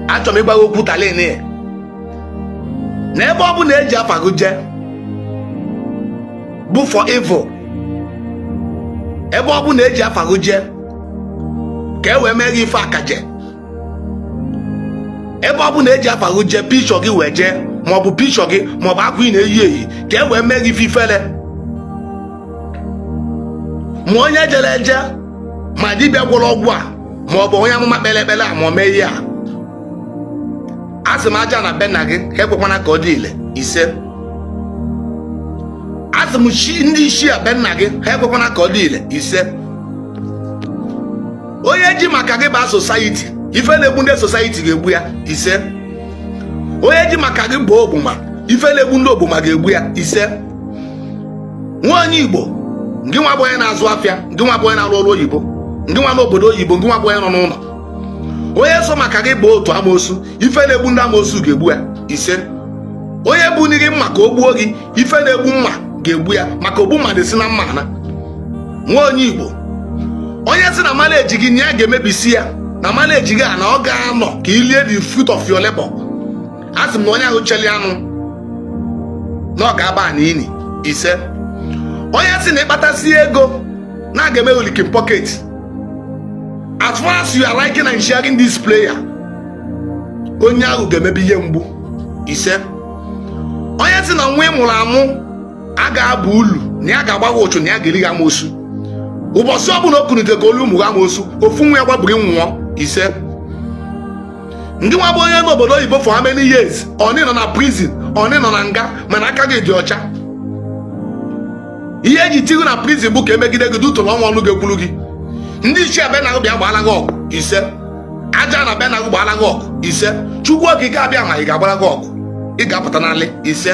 achọrọ m ịgwa gị okwu talini na ebe ọ bụna eji afa gị jee bụ for evil ebe ọ bụna eji afa gị jee ka e wee mee gị ife akaje ebe ọ bụna eji afa gị jee picture gị wee jee maọbụ picture gị maọbụ akwa ị na-eyi eyi ka e wee mee gị ife ifele ma onye jere eje ma dibịa gwọrọ ọgwụ a ma ọ bụ onye amụma kpere ekpere a ma o mee ihe a asị m ajana be nna gị ha ekwekwana ka ọ dị ile ise asị m ndị ichie be nna gị ha ekwekwana ka ọ dị ile ise onye ji maka gị baa society ife na-egbu ndị society ga-egbu ya ise onye ji maka gị baa ogbuma ife na-egbu ndị ogbuma ga-egbu ya ise nwa onye igbo ngị nwa bụ onye na-azụ afịa ngị nwa bụ onye na-arụ ọrụ oyibo ngị nwa n'obodo oyibo ngị nwa bụ onye nọ n'ụnọ onye so maka gị baa otu amoosu ife na-egbu ndị amoosu ga-egbu ya ise onye bunie gị mma ka o gbuo gị ife na-egbu mma ga-egbu ya maka ogbu mma na-esi na mma ana nwa onye igbo onye sị na mala eji gị na ya ga-emebisi ya na mala eji gị a na ọ ga-anọ ka i lie the fruit of your labor a sị m na onye ahụ cheli anụ na ọ ga-aba na ini ise onye sị na ị kpatasịa ego na aga eme gị leaking pocket as far as you are liking and sharing this prayer onye ahụ ga-emebi ihe mgbu ise onye sị na nwa ị mụrụ amụ a ga-aba ulu na ya ga-agba gị ụchụ na ya ga-eri gị amoosu ụbọchị ọbụla o kunite ka o lie ụmụ gị amoosu ofu nwa ya gbabiri nwụọ ise ngị nwa bụ onye nọ n'obodo oyibo for how many years onye nọ na prison onye nọ na nga mana aka gị dị ọcha ihe eji tii gị na prison bụ ka emegide gị due to na ọ nwerọ ọnụ ga-ekwuru gị ndị ichie be nna bịa gbaala gị ọgụ ise ajana be nna gị gbaala gị ọgụ ise chukwu okike abịama ga-agbara gị ọgụ ị ga-apụta n'alị ise